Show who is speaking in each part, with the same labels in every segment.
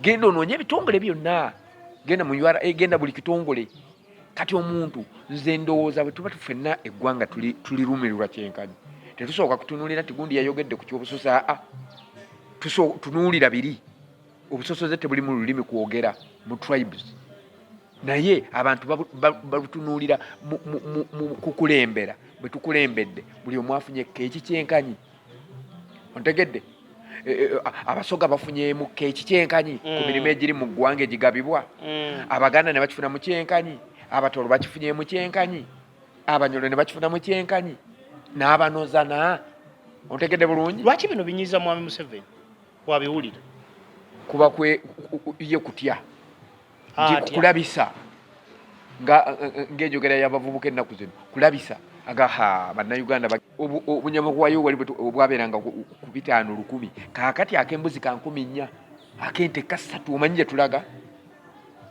Speaker 1: genda onoonye ebitongole byonna genda mu ura eh, genda buli kitongole kati omuntu nze ndowooza bwe tuba tufenna eggwanga tulirumirirwa kyenkanyi tetusooka kutunuulira nti gundi yayogedde ku kyobusosa aa tunuulira biri obusosoze tebuli mu lulimi kwogera mu tribes naye abantu babutunuulira mu kukulembera bwe tukulembedde buli omwafunye keeki kyenkanyi ontegedde Eh, eh, abasoga bafunyemu keki kyenkanyi ku mm. mirimu egiri mu ggwanga egigabibwa mm. abaganda ne bakifuna mu kyenkanyi abatolo bakifunyemu kyenkanyi abanyolo ne bakifuna mu kyenkanyi n'abanozana ontegedde bulungi lwaki bino binyiza mwami
Speaker 2: museveni wabiwulira kuba
Speaker 1: ye kutya kulabisa ng'enjogera y'abavubuka ennaku zino kulabisa agaha bannayuganda obunyama bwayo wali obwabeeranga ku bitaano lukumi kaakati ak'embuzi ka nkumi nnya ak'ente kasatu omanyi gye tulaga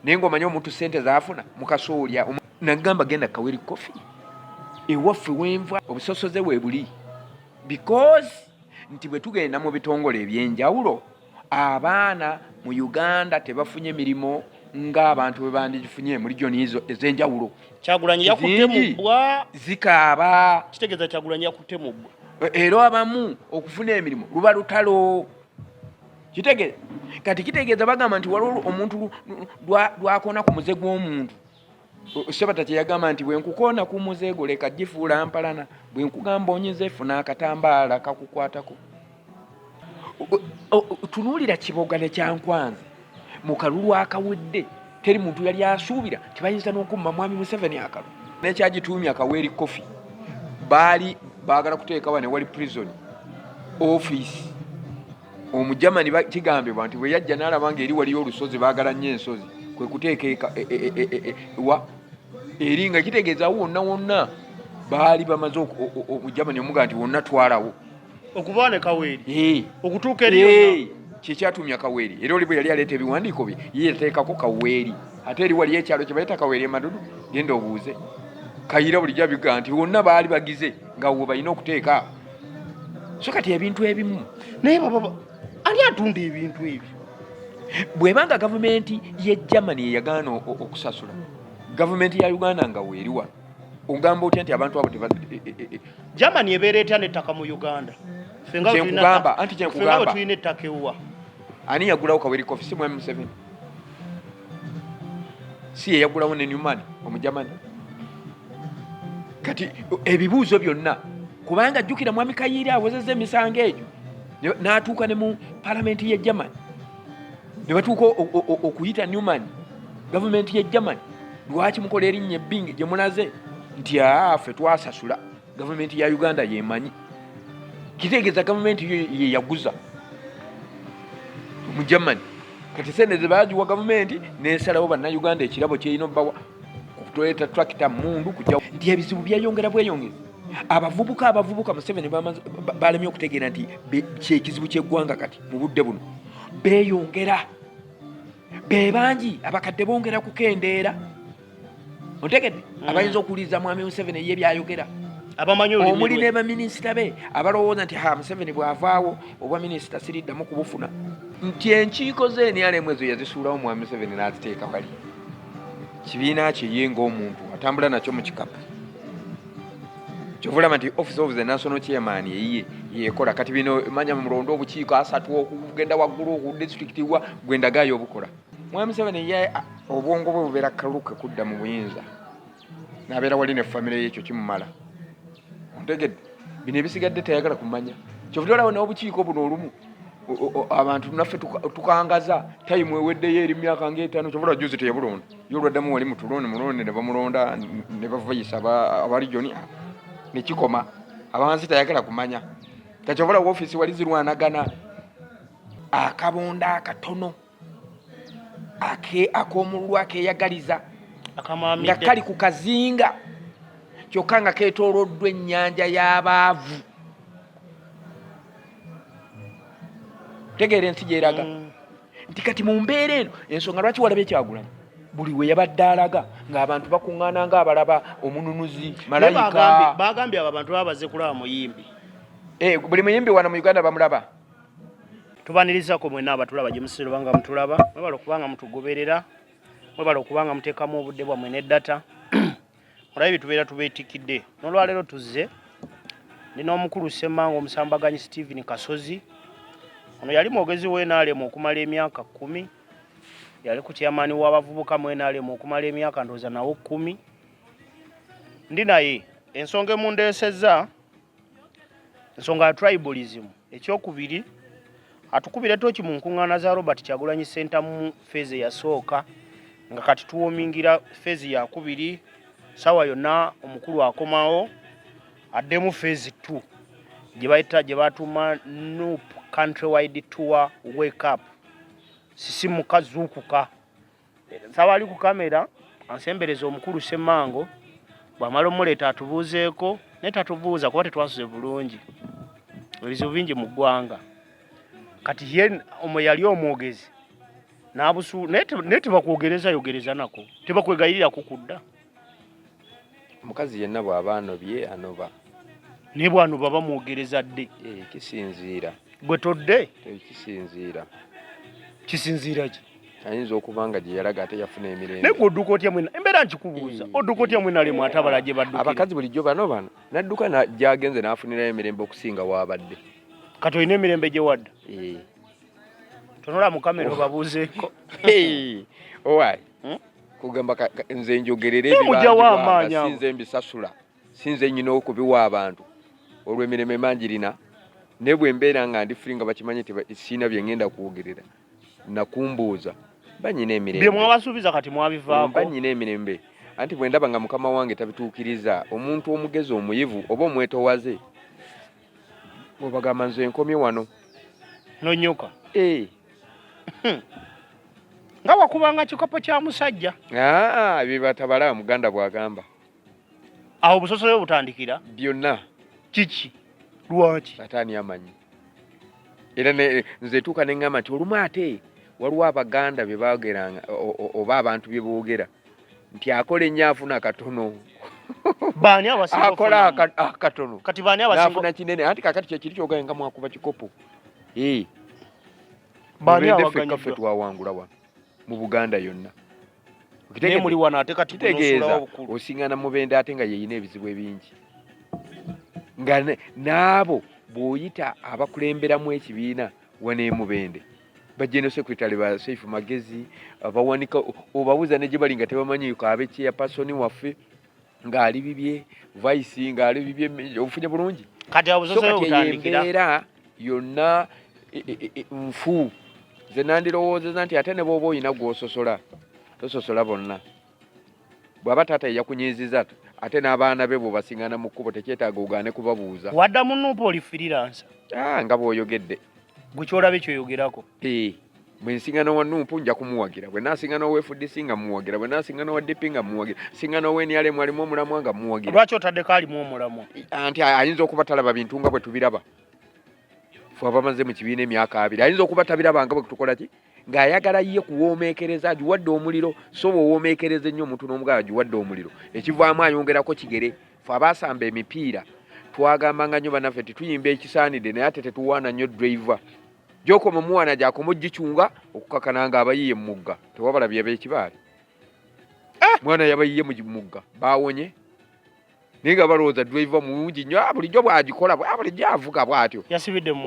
Speaker 1: naye ng'omanyi omuntu ssente zaafuna mukasoolya nagamba genda kaweri kofi ewaffe wenva obusosoze we buli because nti bwe tugenda mu bitongole eby'enjawulo abaana mu uganda tebafunye mirimu ng'abantu bwe bandigifunye mu regioni ezo ez'enjawulo kyagulanyi yakutte
Speaker 2: mu bbwa zikaaba
Speaker 1: kitegeeza kyagulanyi
Speaker 2: yakutte mu bbwa e, era abamu
Speaker 1: okufuna emirimu luba lutalo kitegeeza kati kitegeeza bagamba nti waliwo omuntu lwakona ku muze gw'omuntu Sabata kye yagamba nti bwe nkukoona ku muze gwo leka gifuula mpalana, bwe nkugamba onyize funa akatambaala kakukwatako. Tunuulira Kiboga ne Kyankwanzi mu kalulu akawedde, teri muntu yali asuubira nti bayinza n'okumma Mwami Museveni akalu. Nekyagituumya Kaweeri Kofi baali baagala kuteekawa ne wali prison office Omujamani kigambibwa nti bwe yajja n'alaba ng'eri waliyo olusozi, baagala nnyo ensozi, kwe kuteeka eka e, e, e, wa eri nga kitegeeza awo wonna wonna baali bamaze omujamani omuga nti wonna twalawo okuva ne
Speaker 2: kaweeri okutuuka eri kyekyatumya kaweeri
Speaker 1: era oli bwe yali aleeta ebiwandiiko bye ye yateekako kaweeri ate eri waliyo ekyalo kye bayita kaweeri emadudu genda obuuze kayira bulijjo abiga nti wonna baali bagize nga wo balina okuteeka so kati ebintu ebimu naye baba
Speaker 2: ani atunda ebintu ebyo bwebanga
Speaker 1: gavumenti ye germany eyagaana okusasula gavumenti ya uganda nga weeri wano ogamba otya nti abantu abo teba e, e, e,
Speaker 2: germany ebeera etya nettaka mu uganda fengakugamba
Speaker 1: anti kyenkugamba tulina ettaka ewuwa
Speaker 2: ani yagulawo
Speaker 1: kaweri kofi si mwami museveni si yeyagulawo ne newman omujamani kati ebibuuzo byonna kubanga jjukira mwami kayiiri awozeza emisango egyo n'atuuka ne mu palamenti ye german ne batuuka okuyita newman gavumenti ye german lwaki mukola erinnya ebbingi gye mulaze nti aa ffe twasasula Gavumenti ya Uganda yemanyi, kitegeeza gavumenti yeyaguza mu Germany. Kati sente zebagiwa gavumenti nesalawo bannayuganda ekirabo kyerina obawa kutuleeta tractor mundu kujja nti ebizibu byeyongera bweyongezi abavubuka abavubuka museveni balemye okutegeera nti kyekizibu kyeggwanga kati mu budde buno beyongera bebangi abakadde bongera kukendeera otegedde mm. abayinza okuwuliriza mwami museveni eye byayogera omuli ne baminisita be abalowooza nti ha museveni bw'avaawo obwa minisita siriddamu kubufuna nti enkiiko ze nrm ezo yazisuulawo mwami museveni n'aziteeka wali kibiina kye ye ng'omuntu atambula nakyo mu kikapu kyovulaba nti office of the national chairman eyiye yekola kati bino manya mulonda obukiiko asatu okugenda waggulu oku district wa gwendagaayo obukola Mwami Museveni ye obwongo bwe bubeera kaluke kudda mu buyinza n'abeera wali ne famire ye ekyo kimumala ontegedde bino ebisigadde tayagala kumanya kyovudde olaba n'obukiiko buno olumu abantu naffe tukangaza tayimu eweddeyo eri myaka ngaetaano kyovula juzi teyabulonda ye olwaddamu wali mutuloni mulonde ne bamulonda ne bavayisa abalijoni nekikoma abansi tayagala kumanya kakyovula wofiisi wali zirwanagana akabonda akatono ak'omululu akeeyagaliza nga kali ku kazinga kyokka nga keetooloddwa ennyanja y'abaavu tegeera ensi gyeraga mm. nti kati mu mbeera eno ensonga lwaki walaba ekyagulanyi buli we yabadde alaga ng'abantu bakuŋŋaana ng'abalaba omununuzi malayika bagambye abo abantu baba baze kulaba
Speaker 2: muyimbi
Speaker 1: eh,
Speaker 2: buli muyimbi
Speaker 1: wano mu
Speaker 2: uganda
Speaker 1: bamulaba
Speaker 2: tubanirizako mwena abatulaba gyemusisira obanga mutulaba mwebale okubanga mutugoberera mwebale okubanga mutekamu obudde bwamwe ne data olabe byetubeera tubetikidde nolwaleero tuzze ndi n'omukulu ssemanga omusambaganyi stephen kasozi ono yali mwogezi wenalemu okumala emyaka kumi yali ku kyamaani w'abavubuka mwenalemu okumala emyaka ndooza nawo kumi ndi naye ensonga emundeesezza ensonga ya tribalism ekyokubiri atukubire toki mu nkuŋŋaana za robert kyagulanyi sentamu feezi eyasooka nga kati tuwomingira feezi yakubiri sawa yonna omukulu akomawo addemu feezi t gyebayita gye batuuma nup country wide tour wake up sisimuka zuukuka nsaba ali ku kamera ansembereza omukulu ssemango bwamala omuleeta atubuuzeeko naye tatubuuza kuba tetwasuze bulungi ebizibu bingi mu ggwanga kati ye omu yali omwogezi nabusu naye tebakwogereza yogereza nako tebakwegayirirako kudda
Speaker 1: omukazi yenna bw'aba anobye anoba naye
Speaker 2: bwanoba bamwogereza dde eh, kisinziira
Speaker 1: gwe todde
Speaker 2: eh, kisinziira kisinziira ki ayinza okuba nga
Speaker 1: gye yalaga ate yafuna emirembe naye odduka otya mwena
Speaker 2: embeera nkikubuuza eh. odduka otya mwena lemu ate abala gye baddukira abakazi bulijjo bano bano
Speaker 1: nadduka gyagenze n'afunirayo emirembe okusinga waabadde kati olina
Speaker 2: emirembe gye wadda tonula mu kamera oh. obabuuzeeko
Speaker 1: owaayi hmm? kugamba nze njogerere ebibanjibwasinze mbisasula sinze nyina okubiwa abantu olwo emirimo emanjirina naye bwe mbeera nga ndi fuli nga bakimanyi nti siina bye ngenda kwogerera nakumbuuza banyina emirembe byemwabasuubiza kati
Speaker 2: mwabivaako banyina emirembe
Speaker 1: anti bwe ndaba nga mukama wange tabituukiriza omuntu omugezi omuyivu oba omwetowaze obagamba nze nkomye wano nonyoka
Speaker 2: eh. hmm. nga wakubanga kikopo kya musajja ah, ah, byebatabala
Speaker 1: muganda bwagamba
Speaker 2: awo busosoyo butandikira byonna
Speaker 1: kiki
Speaker 2: lwaki ataani amanyi
Speaker 1: era nze tuuka neŋgamba nti olumu ate waliwo abaganda bye baageranga oba abantu bye boogera nti akola ennyo afuna katono baani
Speaker 2: abasinga akola akatono
Speaker 1: ah, kati baani abasinga afuna
Speaker 2: kinene anti kakati
Speaker 1: kyekiri kyogaye nga mwakuba kikopo ee
Speaker 2: baani abaganyidwa ffe twawangula
Speaker 1: wano mu Buganda yonna naye
Speaker 2: muli wano ate kati kitegeeza
Speaker 1: osingana mubende ate nga yeyina ebizibu ebingi nga n'abo bw'oyita abakulemberamu ekibiina waneemubende bajeno secretary ba safe magezi bawanika obabuza ne jibali nga tebamanyi ko abechi ya person wafe nga ali bibye vice nga ali bibye ofunya bulungi kati abuzo so kati
Speaker 2: yembera era
Speaker 1: yonna e, e, e, nfu zenandiro woze zanti atene bobo ina gwososola tososola bonna bw'aba taata ye yakunyiiziza ate n'abaana be bw'obasingana mu kkubo tekyetaaga ogaane kubabuuza wadda mu nuupu oli
Speaker 2: firiransa ah, nga bw'oyogedde
Speaker 1: gwe ky'olaba
Speaker 2: ekyoyogerako eh, bwe
Speaker 1: nsingana wa nuupu nja kumuwagira bwe nasingana owa fdc nga muwagira bwe nasingana owa dp nga muwagira singana owa nrm alimu omulamwa nga muwagira lwaki otaddeko alimu
Speaker 2: omulamwa anti ayinza
Speaker 1: okuba talaba bintu nga bwe tubiraba fe abamaze mu kibiina emyaka abiri ayinza okuba tabirabanga bwe tukola ki ng'ayagala ye kuwoomeekereza agiwadde omuliro so bw'owoomeekereza ennyo omuntu n'omugala agiwadde omuliro ekivaamu ayongerako kigere fe abaasamba emipiira twagambanga nnyo banaffe nti tuyimba ekisaanidde naye ate tetuwaana nnyo driva gyokoma omuwaana gyakoma ogicunga okukakana nga abayiye mumugga tewabala byabeekibaale eh! mwana yabayiye mumugga baawonye naye nga balowooza driver mulungi nyo ah, bulijjo bwagikola ah, bulijjo avuga bwatyo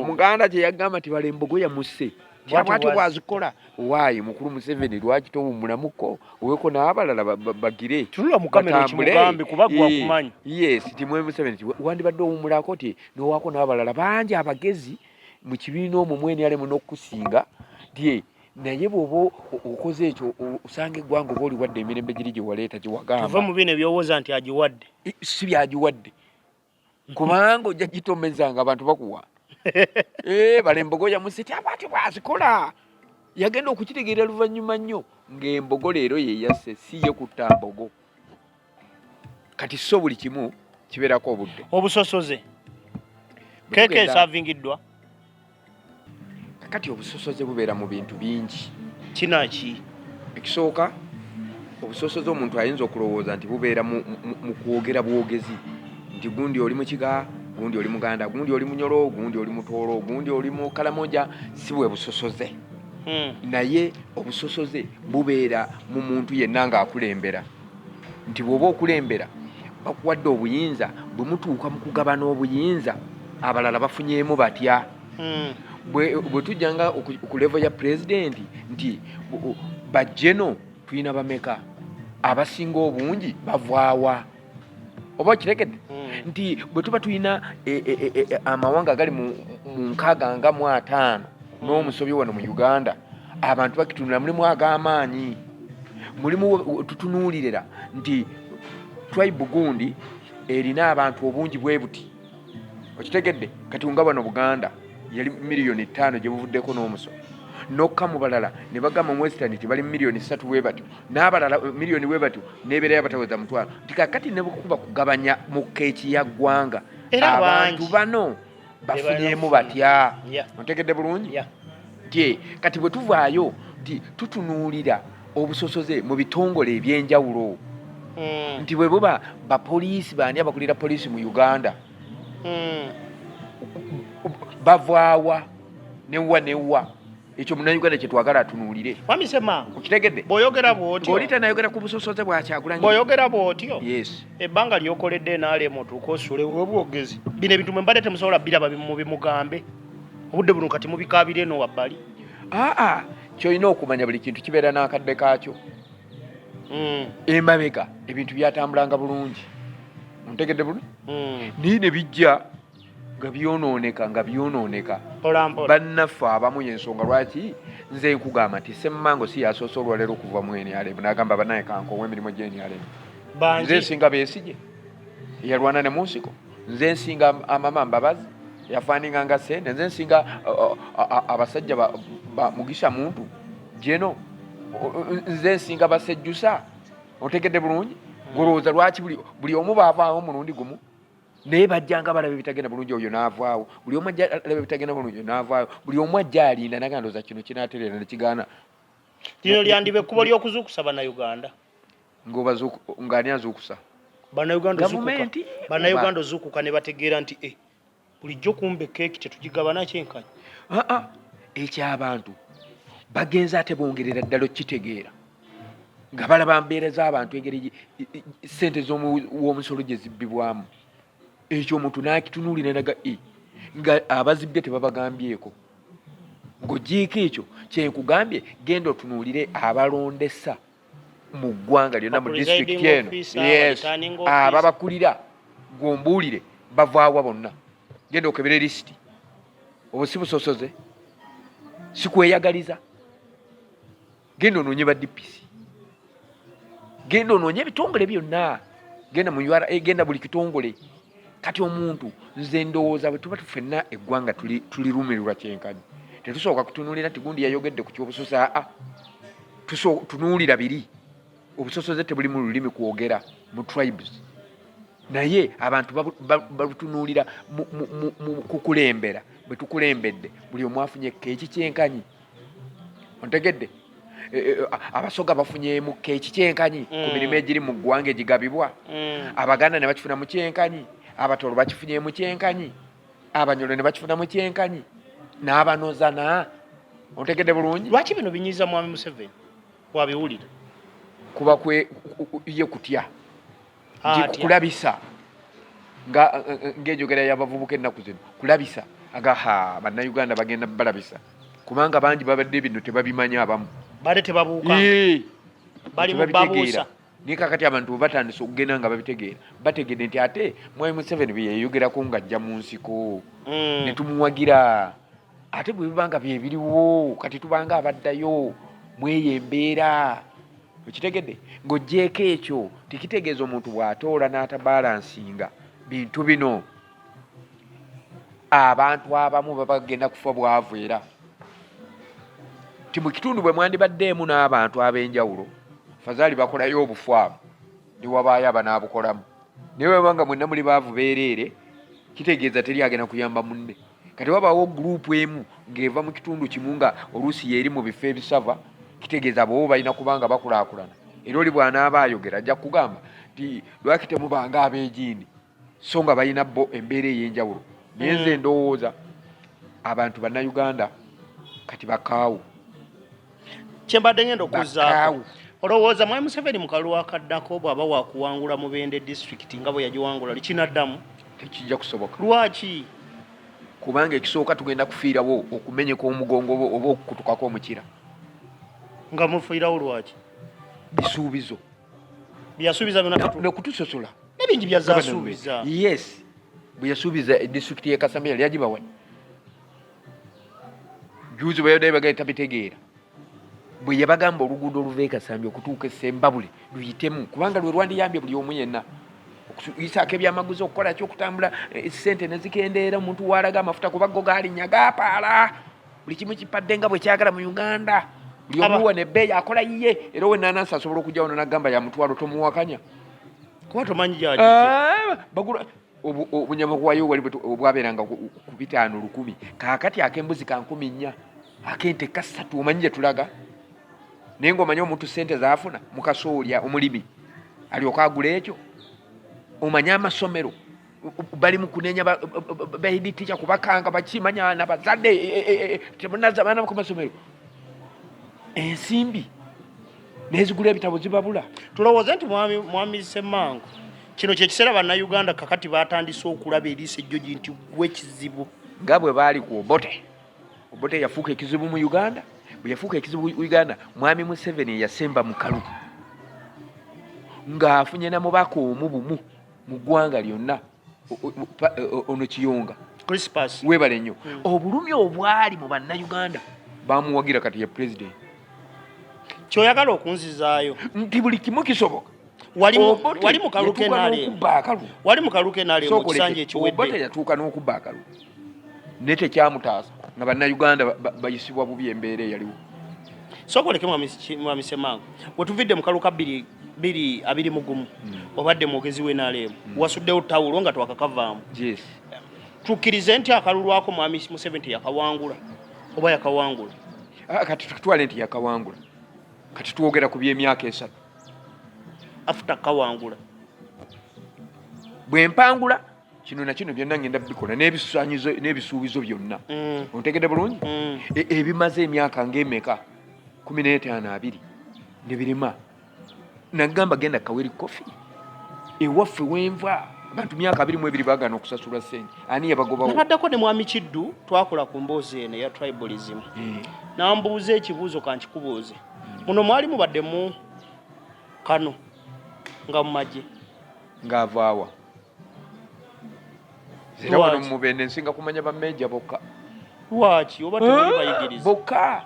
Speaker 1: omuganda kye yagamba nti bala embogo yamusse bwatyo bwazikola waayi mukulu museveni lwaki towummulamuko oweko n'abalala bagire
Speaker 2: tuulamukamerokimugambekubagwakumanyiyes eh, timwe
Speaker 1: museveni wandibadde owummulako ti nowako n'abalala bangi abagezi mu kibiina omwo mwenyalemu n'okusinga ti naye bwoba okoze ekyo osanga eggwanga oba oliwadde emirembe giri gyewaleeta gyewagamba mu bino ebyowoza nti
Speaker 2: agiwadde si byagiwadde
Speaker 1: kubanga ojja gitomeza nga abantu bakuwa eh, balembogo yamusiti abati bwazikola yagenda okukitegeera luvannyuma nnyo ng'embogo leero yeyasse si ye kutta mbogo kati so buli kimu kibeerako obudde obusosoze
Speaker 2: keeka esavingiddwa
Speaker 1: kakati obusosoze bubeera mu bintu bingi kinaki
Speaker 2: ekisooka
Speaker 1: obusosoze omuntu ayinza okulowooza nti bubeera mu kwogera bwogezi nti gundi oli mukiga gundi oli muganda gundi oli munyolo gundi oli mutoolo gundi oli mukalamoja si bwe busosoze hmm. naye obusosoze bubeera mu muntu yenna ng'akulembera nti bw'oba okulembera bakuwadde obuyinza bwe mutuuka mu kugabana obuyinza abalala bafunyeemu batya hmm. bwe tujja nga ku levo ya pulezidenti nti bajeno tulina bameka abasinga obungi bavaawa oba okiregedde hmm. nti bwe tuba tulina e, e, e, amawanga agali mu nkaaga nga mu ataano hmm. n'omusobi wano mu uganda abantu bakitunula mulimu ag'amaanyi mulimu tutunuulirira nti tribe gundi erina abantu obungi bwe buti okitegedde kati nga bano buganda yali miliyoni etaano gye buvuddeko n'omuso nokka mu balala ne bagamba mu western nti bali miliyoni ssatu bwe batyo n'abalala eh, miliyoni bwe batyo n'ebeera yabataweza mutwalo nti kakati ne bukuba kugabanya mu keeki ya ggwanga abantu bano bafunyemu batya ontegedde bulungi nti kati bwe tuvaayo nti tutunuulira obusosoze mu bitongole ebyenjawulo hmm. nti bwe buba bapoliisi baani abakulira poliisi mu uganda hmm. bavaawa newa newa ekyo munayuganda kyetwagala atunuulire okitegedde
Speaker 2: bwoyogera
Speaker 1: bwotyo oli
Speaker 2: tanayogera ku busosoze
Speaker 1: bwakyagulanyi bwoyogera bwotyo
Speaker 2: ebbanga
Speaker 1: lyokoledde
Speaker 2: nrm otuuka osule olwobwogezi bino ebintu mwe mbadde temusobola biraba mubimugambe obudde buno kati mubikaabira eno wabbali aa kyolina okumanya buli kintu kibeera n'akadde kaakyo hmm. emabega ebintu byatambulanga bulungi ontegedde bulungi hmm. naye ne bijja nga byonooneka nga byonooneka bannaffe abamu yensonga lwaki nze nkugamba nti semmango si yasoose olwaleero okuva mu nrm nagamba banaye kankowa emirimu gye nrm nze nsinga besigye eyalwana ne munsiko nze nsinga amama mbabazi yafaninga nga sente nze nsinga abasajja mugisha muntu jeno nze nsinga basejjusa otegedde bulungi hmm. gulowooza lwaki buli omu baavaawo omulundi gumu naye bajjanga balaba ebitagenda bulungi oyo n'avaawo buli omu ajja alaba ebitagenda bulungi n'avaayo buli omu ajja alinda naga ndoza kino kinatereera nekigaana lino lyandiba ekkubo ly'okuzuukusa bannayuganda ng'ani
Speaker 1: azuukusa bannayugandagavumenti
Speaker 2: bannayuganda ozuukuka ne bategeera nti e bulijjo kumba ekeeki tetugigabana kyenkanyi aa ah, ah,
Speaker 1: ekyabantu bagenze ate bongerera ddala okukitegeera nga balaba mbeera z'abantu engeri sente z'omuwomusolo gye zibbibwamu ekyo omuntu n'akitunuulira naga e nga abazibbye tebabagambyeko ng'ogiiko ekyo kyenkugambye genda otunuulire abalondesa mu ggwanga lyonna mu disitulikiti eno yes ababakulira gwombuulire bavaawa bonna genda okebere lisiti obusibusosoze sikweyagaliza genda onoonye ba DPC, genda onoonye ebitongole byonna, genda mu URA, eh, genda buli kitongole. Kati omuntu nze ndowooza bwe tuba tufenna eggwanga tulirumirirwa kyenkanyi, tetusooka kutunuulira nti gundi yayogedde ku kyobusoso. Aa, tunuulira biri obusosoze tebuli mu lulimi kwogera mu tribes, naye abantu babutunuulira mu kukulembera. Bwe tukulembedde buli omu afunye keeki kyenkanyi. ontegedde e, e, abasoga bafunyemu keki kyenkanyi ku mm. mirimu egiri mu ggwanga egigabibwa mm. abaganda ne bakifuna mu kyenkanyi abatolo bakifunyemu kyenkanyi abanyolo ne bakifuna mu kyenkanyi n'abanozana ontegedde bulungi lwaki bino binyiza mwami
Speaker 2: museveni wabiwulira kuba
Speaker 1: ye kutya kulabisa ng'enjogera y'abavubuka ennaku zino kulabisa agaha bannayuganda bagenda balabisa kubanga bangi babadde bino tebabimanyi abamu bade tebabuuka
Speaker 2: bali mubabuusa naye kakati abantu
Speaker 1: webatandise okugenda nga babitegeera bategedde nti ate mwai museveni byeyeyogerako ng'ajja mu nsiko mm. ne tumuwagira ate bwe biba nga byebiriwo kati tubanga abaddayo mweyo embeera okitegedde ng'ogyeko ekyo tekitegeeza omuntu bw'atoola n'atabalansinga bintu bino abantu abamu baba bagenda kufa bwavu era ti mu kitundu bwe mwandibaddeemu n'abantu ab'enjawulo fazaali bakolayo obufwamu newabaayo abanaabukolamu naye webanga mwenna muli baavu beereere kitegeeza teri agenda kuyamba munne kati wabaawo guruupu emu ng'eva mu kitundu kimu nga oluusi yeeri mu bifo ebisava kitegeeza boobo balina kuba nga bakulaakulana era oli bw'anaaba ayogera ajja kugamba nti lwaki temubanga abeegiini so nga balina bo embeera ey'enjawulo naye nze hmm. ndowooza abantu bannayuganda kati bakaawu
Speaker 2: kyembadde ngenda okuzaako olowooza mwami museveni mukalulu akaddako bw'aba wakuwangula mubende disitulikiti nga bwe yagiwangula likinaddamu tekijja kusoboka
Speaker 1: lwaki
Speaker 2: kubanga
Speaker 1: ekisooka tugenda kufiirawo okumenyeka omugongo oba okukutukako omukira
Speaker 2: nga mufiirawo lwaki bisuubizo byeyasuubiza byonanekutusosola
Speaker 1: nebingi
Speaker 2: byazasuubiza yes
Speaker 1: bweyasuubiza edisitulikiti yekasamira lyagibawa juzi bweyadayo bagale tabitegeera bwe yabagamba oluguudo oluva e kasambi okutuuka esembabule luyitemu kubanga lwe lwandiyambye buli omu yenna okuyisaako ebyamaguzi okukola ki okutambula eh, sente nezikendeera omuntu waalaga amafuta kuba go gaalinya gapaala buli kimu kipadde nga bwekyagala mu uganda buli omu wano ebbeeyi akola yiye era owenanansi asobola okujja wano nagamba yamutwalo tomuwakanya kuba
Speaker 2: tomanyi eh,
Speaker 1: obunyama kuwayo wali obwabeeranga ku bitaano lukumi kakati akembuzi ka nkumi nnya akente kasatu omanyi gye tulaga naye ngaomanyi omuntu sente zaafuna mukasoolya omulimi alyoka agula ekyo omanyi amasomero bali mukunenya baiditicha kubakanga bakimanya nabazadde temunaza baana ku masomero ensimbi nezigula ebitabo zibabula tulowooze nti mwami
Speaker 2: mwami semango kino kyekiseera bannayuganda kakati batandise okulaba eriisa ejjoji nti gwe kizibu nga bwe baali
Speaker 1: ku obote obote yafuuka ekizibu mu uganda bwe yafuuka ekizibu uganda mwami museveni eyasemba mukalu ng'afunye na mubaka omu bumu mu ggwanga lyonna ono kiyonga Crispus webale
Speaker 2: nnyo mm.
Speaker 1: obulumi obwali mu bannayuganda bamuwagira kati ye president
Speaker 2: kyoyagala okunzizaayo nti buli kimu
Speaker 1: kisoboka wali
Speaker 2: mu kaluke nalyo wali mu kaluke nalyo mu kisanja ekiwedde obote yatuuka n'okubba
Speaker 1: akalulu naye tekyamutaasa nga bannayuganda bayisibwa bubi embeera eyaliwo sokoleke
Speaker 2: mwami semanga wetuvidde mukalu ka biri biri abiri mugumu mm. obadde mwogezi we nalemu mm. wasuddewo tawulo nga twakakavaamu yes. tukkirize nti akalulu ako mwami museveni teyakawangula oba yakawangula ah, kati
Speaker 1: tukitwale nti yakawangula kati twogera ku byemyaka esatu
Speaker 2: afuta kawangula
Speaker 1: bwempangula kino nakino byonna ngenda bikola n'ebisanyizo n'ebisuubizo byonna mm. ontegede bulungi mm. e, ebimaze emyaka ngaemeka kumi n'etaano abiri nebirima nagamba genda kaweri kofi ewaffe wenva abantu myaka abiri mu ebiri bagana okusasula sente ani yabagobawobaddako ne mwami kiddu
Speaker 2: twakola ku mboozi eno eya tribalism eh. nambuuza ekibuuzo kankikubuuze mm. muno mwali mubaddemu kano nga mumagye ngaavaawa
Speaker 1: era wano Lwaki? mubende nsinga kumanya bameeja bokka lwaki
Speaker 2: oba tewali bayigiriza bokka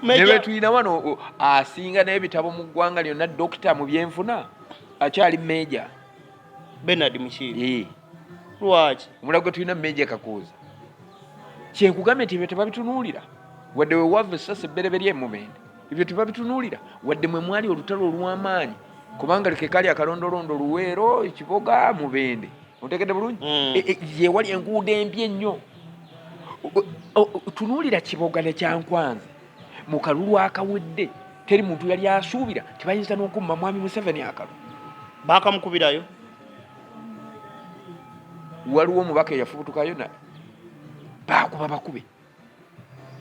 Speaker 1: ne Major- betulina wano o- asinga n'ebitabo mu ggwanga lyonna dokita mu byenfuna akyali meeja benard
Speaker 2: mukiibi Eh, lwaki omulala gwe tulina
Speaker 1: meeja kakuuza kyenkugambye nti ebyo tebabitunuulira wadde wewava essasi ebbereberye emubende ebyo tebabitunuulira wadde mwe mwali olutalo olw'amaanyi kubanga like kali akalondolondo luweero ekiboga mubende ontegedde bulungi mm. e, e, yewali enguudo embi ennyo tunuulira kiboga ne kyankwanzi mu kalulu akawedde teri muntu yali asuubira tebayinza n'okumma mwami museveni akalu bakamukubirayo waliwo omubaka eyafubutukayo na bakuba bakube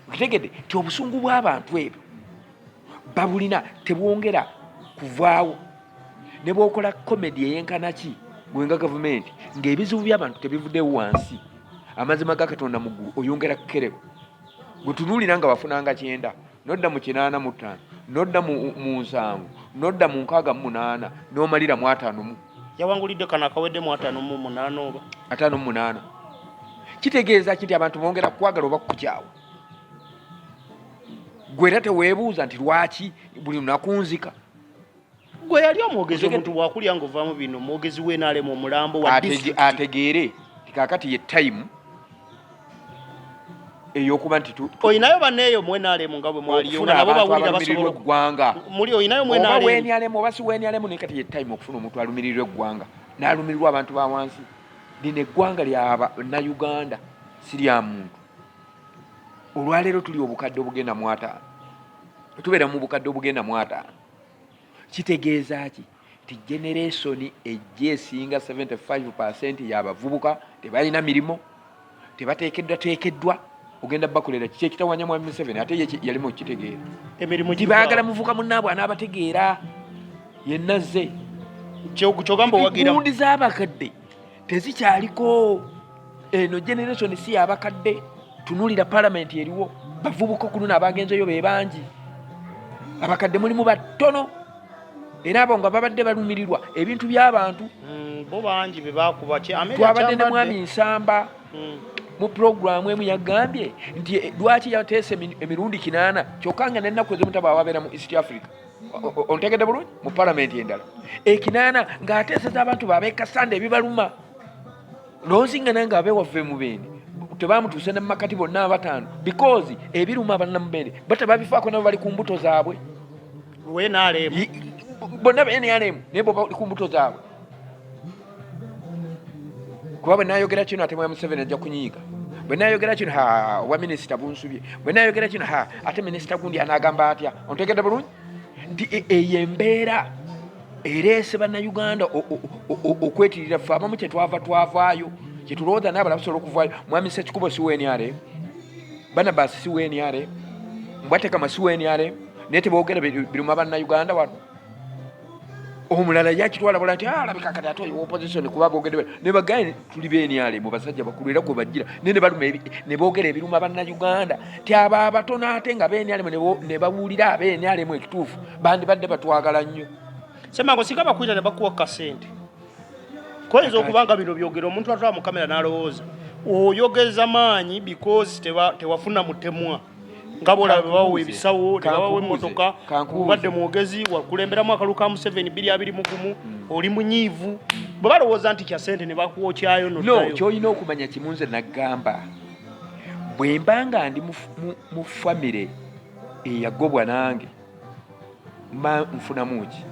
Speaker 1: okitegedde nti obusungu bw'abantu ebyo babulina tebwongera kuvaawo ne bwokola komedi eyenkana ki gwenga gavumenti ng'ebizibu by'abantu tebivuddewo wansi amazima ga katonda mu ggulu oyongera kukereba gwe tunuulira nga wafunanga kyenda nodda mu kinaana mu ttaano nodda mu nsanvu nodda mu nkaaga mu munaana n'omalira mu ataano mu yawangulidde kano
Speaker 2: akawedde mu ataano mu munaana oba ataano mu munaana
Speaker 1: kitegeeza ki nti abantu bongera kukwagala oba kukukyawa gwe era teweebuuza nti lwaki buli lunaku nzika
Speaker 2: gwe yali omwogezi omuntu bwakulya nga ovaamu bino omwogezi wenaalemu omulambo wa ategeere
Speaker 1: kakati ye time eyokuba nti oyinayo baneeyo
Speaker 2: mwenaalemu nga bwe mwaliyo nga nabo bawulira basobola eggwanga muli
Speaker 1: oyinayo mwenaalemu
Speaker 2: wenaalemu oba si wenaalemu
Speaker 1: naye kati ye time okufuna omuntu alumirirwa eggwanga n'alumirirwa abantu ba wansi lino eggwanga lya nauganda si lya muntu olwaleero tuli obukadde obugenda mwataano tubeera mu bukadde obugenda mwataano kitegeeza ki nti generesoni ejja esinga 75 percent yabavubuka tebalina mirimu tebateekeddwa teekeddwa ogenda bakolera kiki ekitawanya mwami museveni ate ye yali mukitegeera emirimu gibagala
Speaker 2: muvuka
Speaker 1: munaabwe anaabategeera yenna zze kyogamba
Speaker 2: owagira gundi z'abakadde
Speaker 1: tezikyaliko eno generation si yabakadde tunulira palamenti eriwo bavubuka okuluna abagenzeyo bebangi abakadde mulimu batono era abo nga babadde balumirirwa ebintu byabantu
Speaker 2: mm, twabadde ne mwami
Speaker 1: nsamba mm. mu pulogulaamu emu yagambye nti eh, lwaki yateesa emirundi kinaana kyokka nga nenaku ezimutabawabeera mu east africa ontegedde bulungi mu palamenti endala ekinaana ng'ateeseza abantu babekasanda ebibaluma lonzi nga nange abewaffe mubende tebamutuuse ne mumakati bonna abataano because ebiruma abannamubende bata babifaako nabo bali ku mbuto zaabwe bonna bnrm naye bali ku mbuto zaabwe kuba bwe nayogera kino ate mwa museveni ajja kunyiiga bwe nayogera kino ha obwa minisita bunsubye bwe nayogera kino ha ate minisita gundi anagamba atya ontegedde bulungi nti e, eyo embeera ereese bannayuganda okwetirira ffe abamu kyetwava twavaayo kyetulowooza naye abala basobola okuvaayo mwami sekikubo si weniare banabasi si weniare mbwatekama si weniare naye tebogera biruma bannayuganda wano omulala yakitwala bula ti ah, alabika kati ate oyo opposition kuba bogedde ne bagaye tuli benyale mu basajja bakulu era kwe bajjira ne ne baluma ne bogera ebiruma banna Uganda ti aba abatono ate nga benyale ne bawulira abenyale mu ekituufu bandi badde batwagala nnyo sema ngo sigaba
Speaker 2: kuira ne bakuwa kasente koyinza okubanga bino byogera omuntu atwala mu kamera n'alowooza oyogeza maanyi because tewafuna mutemwa nga bwolaba bebawa ebisawo nebabawa emotoka obadde mwogezi wakulemberamu akalulu ka museveni biri abiri mugumu mm. oli munyiivu bwe balowooza nti kya sente ne bakuwokyayo no kyolina okumanya
Speaker 1: kimu nze naggamba bwe mba nga ndi mu famire eyagobwa nange mba nfunamu ki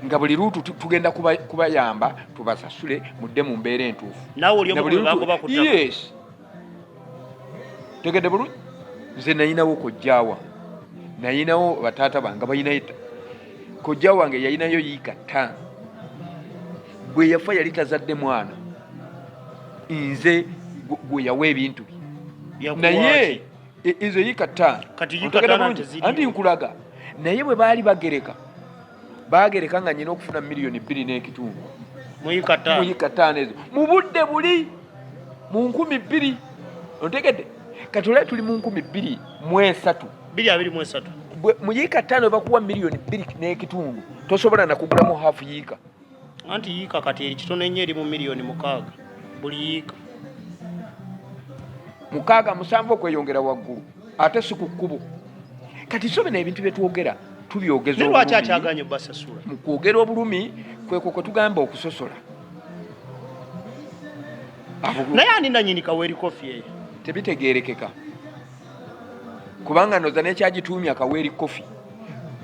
Speaker 1: nga buli luutu tugenda kubayamba tubasasule mudde mu mbeera entuufu nawe oli omu ku bebagoba
Speaker 2: ku ttaka yes
Speaker 1: tegedde bulungi nze nayinawo kojjawa nayinawo bataata bange balinayo kojja wange yalinayo yiika ttaano bwe yafa yali tazadde mwana nze gwe yawa ebintu bye naye e, ezo yiika ttaano anti nkulaga naye bwe baali bagereka baagereka nga nyina okufuna miliyoni bbiri n'ekitundu
Speaker 2: muyika ttaano ezo mu budde
Speaker 1: buli mu nkumi bbiri ontegedde kati olai tuli mu nkumi bbiri mu esatu biri abiri mu esatu mu yiika ttaano bakuwa miliyoni bbiri n'ekitundu tosobola nakugulamu hafu yiika anti yiika
Speaker 2: kati eri kitono ennyo eri mu miliyoni mukaaga buli yiika
Speaker 1: mukaaga musanvu okweyongera waggulu ate si ku kkubo kati so bino ebintu byetwogera tubyogezaolwaki akyaganye
Speaker 2: basasula mu kwogera obulumi
Speaker 1: kwekwo kwe tugamba okusosola
Speaker 2: naye ani nanyini kaweeri kofi eyo tebitegeerekeka
Speaker 1: kubanga noza nekyagituumya kaweeri koffi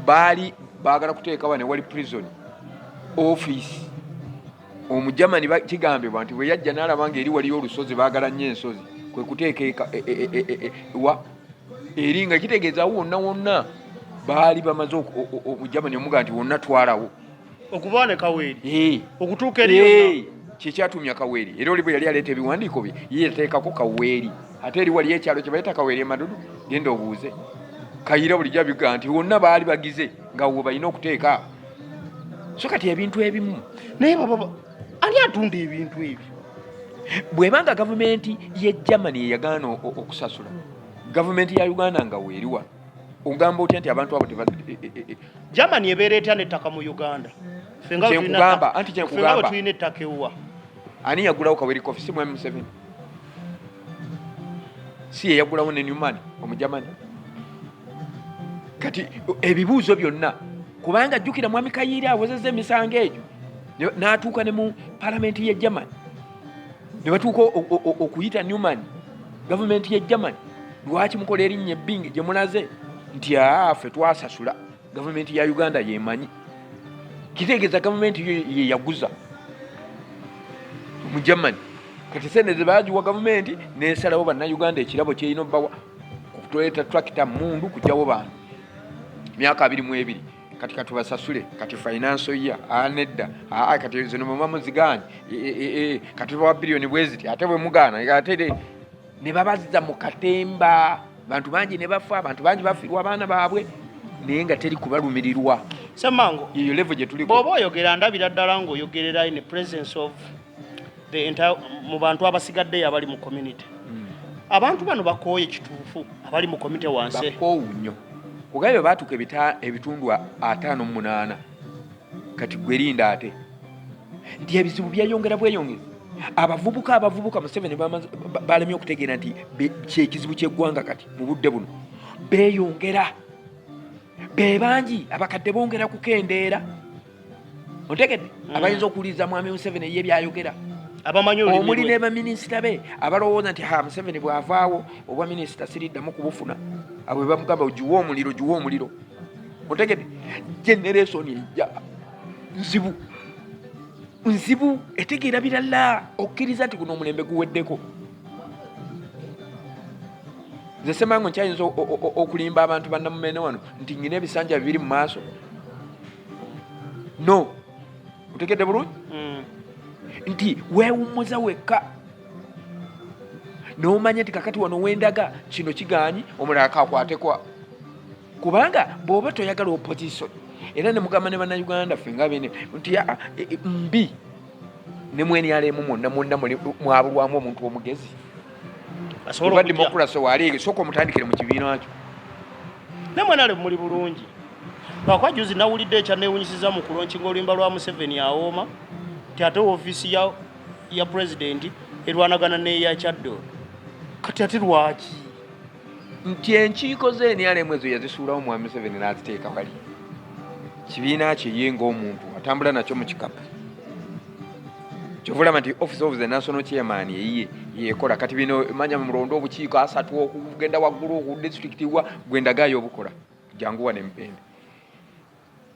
Speaker 1: baali baagala kuteekawa ne wali prison office omujamani kigambibwa nti bwe yajja n'alaba nga eri waliyo olusozi baagala nnyo ensozi kwe kuteeka e, e, e, wa eri nga kitegeeza wonna wonna baali bamaze omujamani omuga nti wonna twalawo okuba ne
Speaker 2: kaweeri eh. okutuuka eri eh. kyekyatumya kaweeri
Speaker 1: era oli bwe yali aleeta ebiwandiiko bye yeyateekako kaweeri ate eri waliyo ekyalo kye bayita kaweeri emadudu genda obuuze kayira bulijjo abigaa nti wonna baali bagize nga wo balina okuteeka so kati ebintu ebimu naye baba
Speaker 2: ani atunda ebintu ebyo bwebanga
Speaker 1: gavumenti ye germany eyagaana okusasula gavumenti ya uganda nga weeriwa ogamba otya nti abantu abo teba e- e- e- germany
Speaker 2: ebeera etya nettaka mu uganda Ffe nga bwe tulina Kyenkugamba, ttaka- anti kyenkugamba.
Speaker 1: ffe nga bwe tulina ettaka ewuwa
Speaker 2: ani yagulawo
Speaker 1: kaweri kofi si mwami museveni si yeyagulawo ne newman omujamani kati ebibuuzo byonna kubanga jjukira mwami kayiira awozeza emisango egyo ne- n'atuuka ne mu palamenti ye germany ne batuuka okuyita Newman gavumenti ya German lwaki mukola erinnya ebbingi gye mulaze nti afe twasasula gavumenti ya Uganda yemanyi kitegeeza gavumenti yeyaguza mu German kati sente zebagiwa gavumenti nesalawo bannayuganda ekirabo kyerina obbawa okutoleeta tractor mundu kugyawo bantu myaka abiri mu ebiri kati katubasasule kati finance ya anedda ah, aa ah, kati zino muba muzigaanyi e, e, e, kati bawa biliyoni bweziti ate bwemugaana ate ne babazza mu katemba bantu bangi ne bafa abantu bangi bafirwa abaana baabwe naye nga teri kubalumirirwa semango yeyo
Speaker 2: levo gye tuliko
Speaker 1: bwoba oyogera ndabira ddala
Speaker 2: ng'oyogererayo ne presence of the entire mu bantu abasigaddeyo abali mu community hmm. abantu bano bakooye kituufu abali mu community wansi bakoowu nnyo
Speaker 1: kugaye bwe baatuuka ebitundu ataano mu munaana kati gwerinda ate nti ebizibu byeyongera bweyongezi abavubuka abavubuka museveni balemye okutegeera nti kyekizibu kyeggwanga kati mu budde buno beyongera be bangi abakadde bongera kukendeera otegedde mm. abayinza okuwuliriza mwami museveni eye byayogera omuli ne baminisita be abalowooza nti ha museveni bwavaawo obwa minisita siriddamu kubufuna abwe bamugamba ogiwa omuliro giwa omuliro otegedde generesoni ejja nzibu nzibu etegeera birala okkiriza nti guno omulembe guweddeko nze semango nkyayinza okulimba abantu banamumene wano nti nyina ebisanja bibiri mu maaso no otegedde bulungi mm. nti wewummuza wekka nomanya nti kakati wano wendaga kino kiganyi omulala kakwatekwa kubanga bwoba toyagala opposition era nemugamba ne bannayuganda ffe nga bene nti e, e, mbi ne mwenyalemu mwonna mwonna mwabulwamu omuntu omugezi oba demokurasi waleege sooka omutandikire mu kibiina kyo nemwenale
Speaker 2: muli bulungi lwakuba juzi nawulidde ekyanewunyisiza mu kulonkinga oluyimba lwa museveni awooma nti ate ofiisi ya, ya pulezidenti erwanagana neya kyaddo kati ate lwaki
Speaker 1: nti enkiiko ze nrm ezo yazisuulawo mwami museveni n'aziteeka wali kibiina kye ye ng'omuntu atambula nakyo mu kikapu kyovulaba nti office of the national chairman eyiye yekola kati bino manya mulonda obukiiko asatu okugenda waggulu oku district wa gwendagayo obukola jangu wane mubende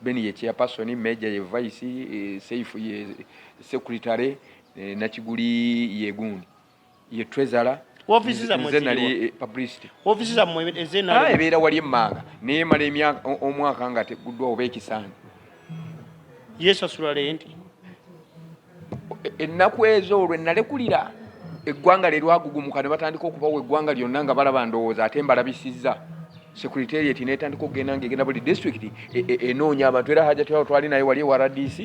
Speaker 1: beni ye chairperson major ye vice e, seifu ye secretary e, nakiguli yegundi ye trezala ofiisi zammwe nze
Speaker 2: nali eh, publicity
Speaker 1: ofiisi zammwe
Speaker 2: ezenaali ah, ebeera wali emmanga
Speaker 1: naye mala emyaka omwaka nga teguddwa oba ekisaani
Speaker 2: yesasula lenti e,
Speaker 1: ennaku ezo olwo ennalekulira eggwanga lye lwagugumuka ne batandika okubawo eggwanga lyonna nga balaba ndowooza ate mbalabisizza secretariat netandika okugenda nga egenda buli district e, e, enoonya abantu era hajati awo twali naye wali ewa rdc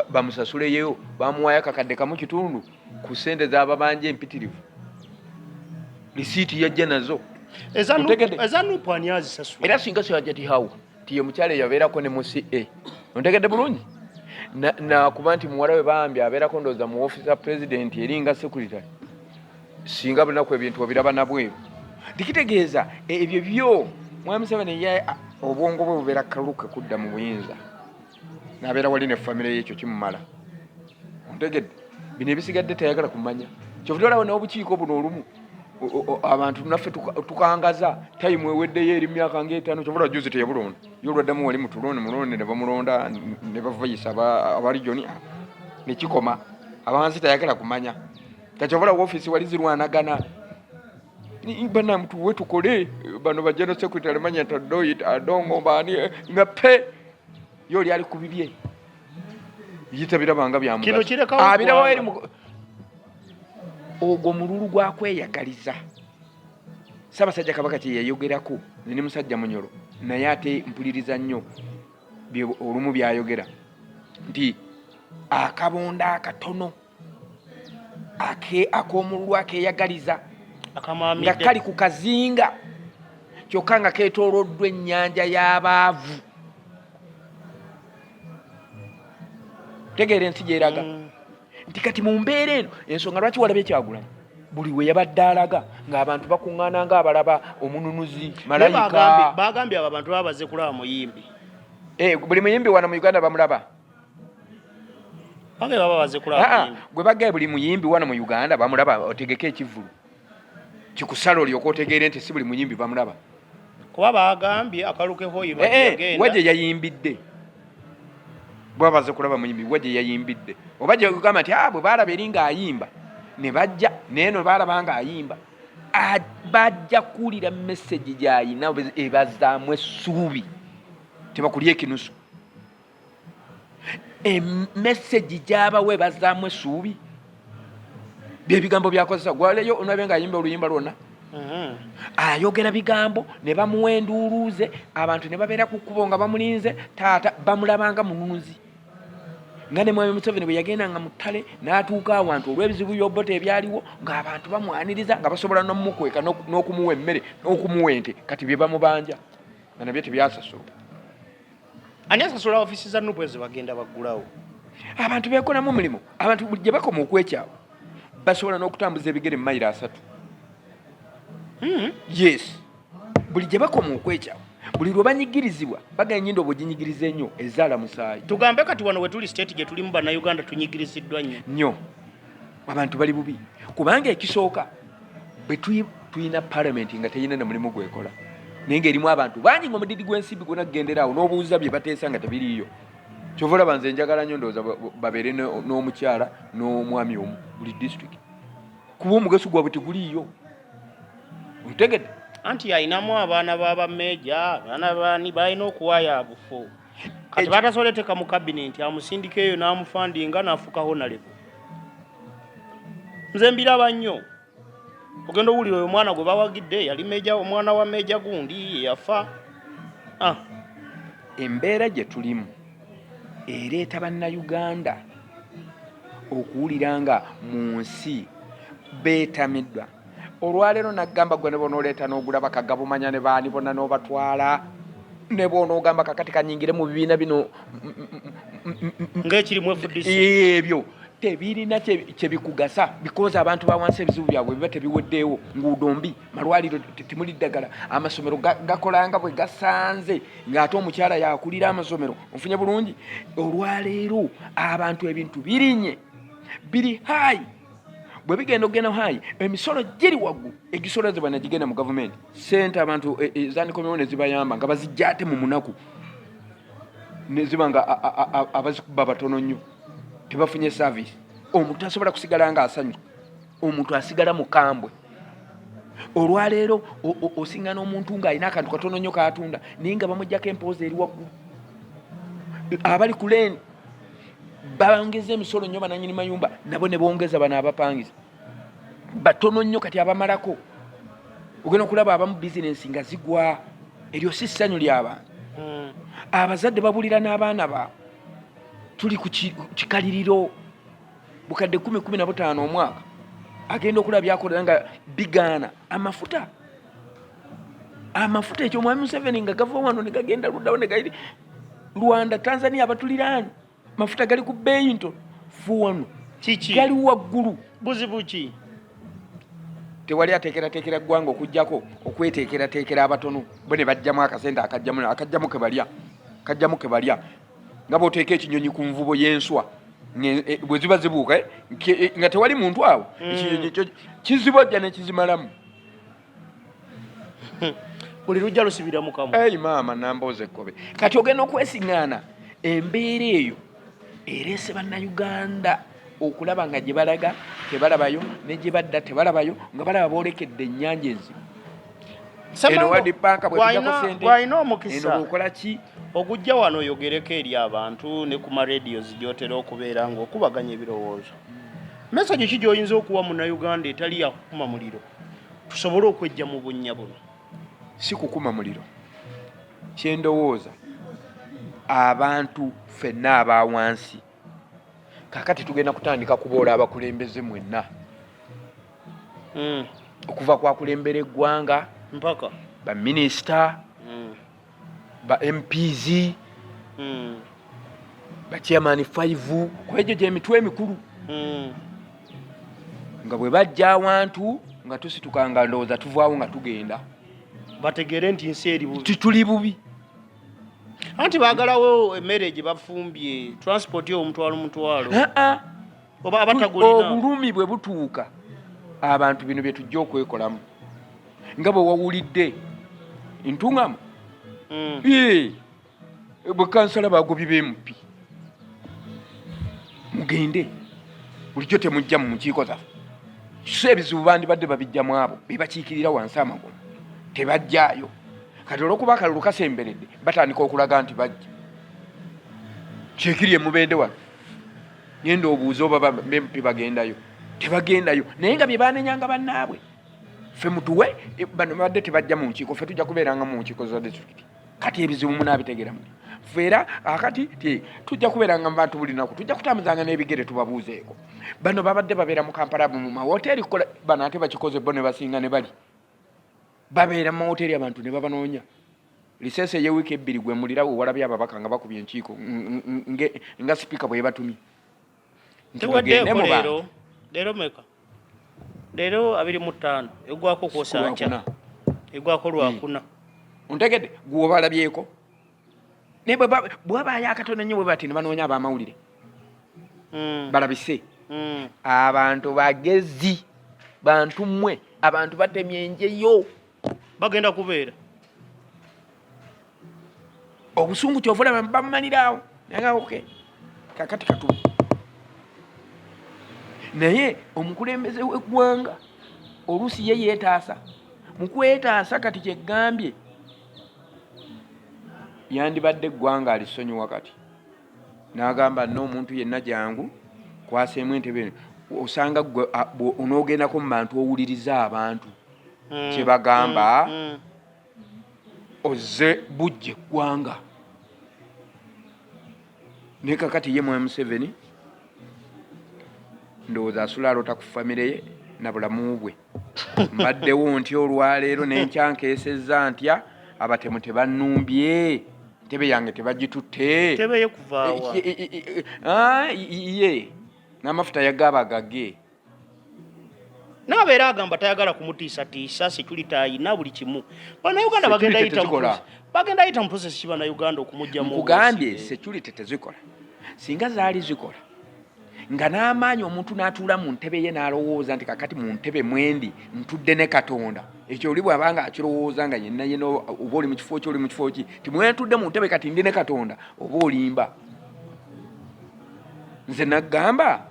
Speaker 1: bamusasuleyo bamuwayo akakadde kamu kitundu ku sente zababanja empitirivu lisiiti yajja nazo
Speaker 2: era singa sajatihawo
Speaker 1: tiye mukyalo eyabeerako ne muca ontegedde bulungi nakuba nti muwala we bambi abeerako ndooza mu ofisi ya pulezidenti eringa sekuritary singa bunaku ebintu obiraba nabweru tikitegeeza ebyo byo mwami seven obwongo bwe bubeera kaluke kudda mu buyinza nabeera wali ne famire ye ekyo kimumala ontegedde bino ebisigadde tayagala kumanya kyovudde olaba n'obukiiko buno olumu abantu naffe tukangaza tayimu eweddeyo eri myaka ngaetaano kyovula juzi teyabulonda ye olwaddamu wali mutuloni mulonde ne bamulonda ne bavayisa abarijoni nekikoma abansi tayagala kumanya kakyovula wofiisi wali zirwanagana banamu tuwe tukole bano bajeno secretary manya tadoit adongo bani nga pe yo oli ali ku bibye yitabirabanga byamuabirawo
Speaker 2: eri
Speaker 1: ogwo mululu gwakweyagaliza ssaabasajja kabaka kye yayogerako ne musajja munyolo naye ate mpuliriza nnyo olumu byayogera nti akabonda akatono akomululu akeyagaliza nga kali ku kazinga kyokka nga ketoloddwa ennyanja y'abaavu tegeera ensi gyeraga mm. nti kati mu mbeera eno ensonga lwaki walaba ekyagulanyi buli we yabadde alaga ng'abantu bakuŋŋaana ng'abalaba omununuzi malayika bagambye abo abantu baba
Speaker 2: baze kulaba muyimbi eh, buli
Speaker 1: muyimbi wano mu uganda bamulaba gwe bagaye buli muyimbi wano mu uganda bamulaba otegeka ekivulu kikusala olyoka otegeere nti si buli muyimbi bamulaba kuba
Speaker 2: bagambye akalukehoyiwa eh, eh, gye
Speaker 1: yayimbidde bwaba baze kulaba muyimbi wa gye yayimbidde oba gye kugamba nti abwe ah, baalaba eri ng'ayimba ne bajja naye no baalaba ng'ayimba ah, bajja kuwulira mesegi gy'ayina ebazaamu essuubi tebakulya ekinusu emesegi eh, gyabawa ebazaamu essuubi byebigambo byakozesa gwaleyo onabe nga ayimba oluyimba lwonna mm-hmm. ayogera bigambo ne bamuwa enduuluuze abantu ne babeera ku kkubo nga bamulinze taata bamulabanga mununzi nga ne mwami museveni bwe yagenda nga muttale n'atuuka awantu olw'ebizibu byobota ebyaliwo ng'abantu bamwaniriza nga basobola n'omumukweka n'okumuwa emmere n'okumuwa ente kati bye bamubanja nga nabyo tebyasasulwa
Speaker 2: ani asasula ofisi za nupu ezo bagenda baggulawo abantu
Speaker 1: bekolamu omulimu abantu buli gye bakoma okwekyawa basobola n'okutambuza ebigere mumayiro asatu hmm. yes buli gye bakoma okwekyawa buli lwe banyigirizibwa bagala enyindo obwo ginyigiriza ennyo ezaala musaayi tugambe kati wano wetuli
Speaker 2: state gye tulimu bannayuganda tunyigiriziddwa nnyo nnyo abantu bali bubi kubanga ekisooka bwe tulina palamenti nga teyina na mulimu gwekola naye nga erimu abantu bangi nga omudidi gw'ensimbi gwona kugenderaawo n'obuuza bye bateesa nga tebiriiyo kyova olaba nze njagala nnyo ndowooza babeere n'omukyala n'omwami omu buli disitulikiti kuba omugaso gwabwe teguliiyo otegedde anti alinamu abaana baba meeja abaana bani balina okuwaayo abufu kati batasobola eteka mu kabinenti amusindika eyo n'amufandinga n'afuuka honalebo nze mbiraba nnyo ogenda owulira oyo omwana gwe bawagidde yali meja omwana wa meja gundi yafa ah.
Speaker 1: embeera gye tulimu ereeta bannayuganda okuwulira nga mu nsi beetamiddwa Olwaleero naggamba gwe nebonooleeta n'ogulaba kagabumanya ne baani bonna n'obatwala ne bwonoogamba kakati kanyingire mu bibiina bino ng'ekirimu
Speaker 2: FDC ebyo
Speaker 1: tebirina kyebikugasa bikoza abantu bawansi ebizibu byabwe biba tebiweddeewo nguudo mbi malwaliro temuli ddagala amasomero gakolanga bwe gasanze ng'ate omukyala yakulira amasomero ofunye bulungi olwaleero abantu ebintu birinye biri hayi bwe bigenda okugenda hayi emisolo giri waggulu egisolozebwa negigenda mu gavumenti sente abantu e, e, zandikomyewo nezibayamba nga bazijja ate mu munaku neziba nga abazikuba batono nnyo tebafunye saavisi omuntu asobola kusigala nga asanyu omuntu asigala mukambwe olwaleero osingana omuntu ng'alina akantu katono nnyo katunda naye nga bamujjako empooza eri waggulu abali ku leeni babangeza emisolo nnyo bananyini mayumba nabo ne bongeza bano abapangiza batono nnyo kati abamalako ogenda okulaba abamu bizinensi nga zigwa eryo si ssanyu lyabantu hmm. abazadde babulira n'abaana ba tuli ku kikaliriro bukadde kumi kumi na butaano omwaka agenda okulaba byakolera nga bigaana amafuta amafuta ekyo mwami Museveni nga gava wano ne gagenda luddawo ne gali Rwanda Tanzania abatuliraani mafuta gali ku bbeeyi nto fu wano kiki gali waggulu buzibu ki tewali ateekerateekera ggwanga okugyako okweteekerateekera abatono bo ne bajjamu akasente akajjamu akajjamu ke balya kajjamu ke balya nga bwoteeka ekinyonyi ku nvubo y'enswa e, bwe ziba zibuuka eh, e, nga tewali muntu awo mm. ekinyonyi kizibojja ne kizimalamu
Speaker 2: buli lujja lusibira mukamu eyi maama namboozi
Speaker 1: ekkobe kati ogenda okwesiŋŋaana embeera eyo ereese bannayuganda okulaba nga gye balaga tebalabayo ne gye badda tebalabayo nga balaba boolekedde ennyanja enzibu eno wadipanka bwetujako sente eno
Speaker 2: bwokola ki
Speaker 1: ogujja wano
Speaker 2: oyogereko eri abantu ne ku maradio zigyotera okubeera ngaokubaganya ebirowoozo mesagi ki gyoyinza okuwa munauganda etali yakukuma muliro tusobole okwejja mu bunnya buno si kukuma
Speaker 1: muliro kyendowooza abantu fenna aba wansi kakati tugenda kutandika kuboola abakulembeze mwenna hmm. okuva kwakulembera eggwanga mpaka
Speaker 2: baminisita
Speaker 1: ba mps mm. ba chairman 5 kwejo je mitwe emikulu mm. nga bwe bajja awantu nga tusituka nga ndowooza tuvaawo nga tugenda bategere
Speaker 2: nti nsi eri bubi tituli bubi anti bagalawo emmere gye bafumbye transport yo omutwalo mutwalo obulumi bwe butuuka
Speaker 1: abantu bino bye tujja okwekolamu nga bwe wawulidde ntuŋamu mm. bwe kansala bagobi bemupi mugende bulijjo temujja mu mukiiko zaffe so ebizibu bandibadde babijjamu abo bebakiikirira wansi amagulu tebajjaayo kati olwokuba akalulu kasemberedde batandika okulaga nti bajja kyekiri emubeende wano genda obuuze oba bempi bagendayo tebagendayo naye nga byebanenyanga bannaabwe fe mutuwe e, bano babadde tebajja mu nkiiko fe tujja kubeeranga mu nkiiko za disitulikiti kati ebizibu munaabitegeramu fe era akati ti tujja kubeeranga mu bantu buli naku tujja kutambuzanga n'ebigere tubabuuzeeko bano babadde babeera mu kampala mu mawoteeri kukola bano ate bakikoze bo ne basinga ne bali babeera mu mawoteeri abantu ne babanoonya Lisese ye week ebbiri gwe mulira we walabye ababaka nga bakubye enkiiko nge nga speaker bwe batumye
Speaker 2: ntiwagende mu bantu lero meka lero abiri mu tano egwako ko sanja egwako lwa hmm. kuna ontegede
Speaker 1: gwo balabyeko ne bwe bwa ba ya katone nyo bwe batini banonya ba maulire mm. balabise mm. abantu bagezi bantu mwe abantu batemye nje yo bagenda
Speaker 2: kubeera
Speaker 1: obusungu kyova olaba bamumaliraawo nagaoke kakati katu naye omukulembeze w'eggwanga oluusi ye yeetaasa mu kwetaasa kati kyegambye yandibadde eggwanga alisonyiwa kati n'agamba n'omuntu yenna jangu kwaseemu entebe osanga gwe onoogendako mu bantu owuliriza abantu mm. kyebagamba mm. ozze bujja eggwanga naye kakati ye mwami museveni ndowooza asula alota ku famire ye na bulamu bwe mbaddewo ntya olwaleero nenkyankeesezza ntya abatemu tebannumbye ntebe yange tebagitutte
Speaker 2: ye
Speaker 1: n'amafuta yagaaba gage naaba
Speaker 2: era agamba tayagala kumutiisatiisa security ayina buli kimu banauganda bagenda yita mu process ki banauganda okumujjamukugambye security
Speaker 1: tezikola singa zaali zikola nga n'amaanyi omuntu n'atuula mu ntebe ye n'alowooza nti kakati mu ntebe mwendi ntudde ne katonda ekyo oli bwaba nga akirowooza nga yenna yena oba oli mu kifo ki oli mu kifo ki ti mwentudde mu ntebe kati ndi ne katonda oba olimba nze naggamba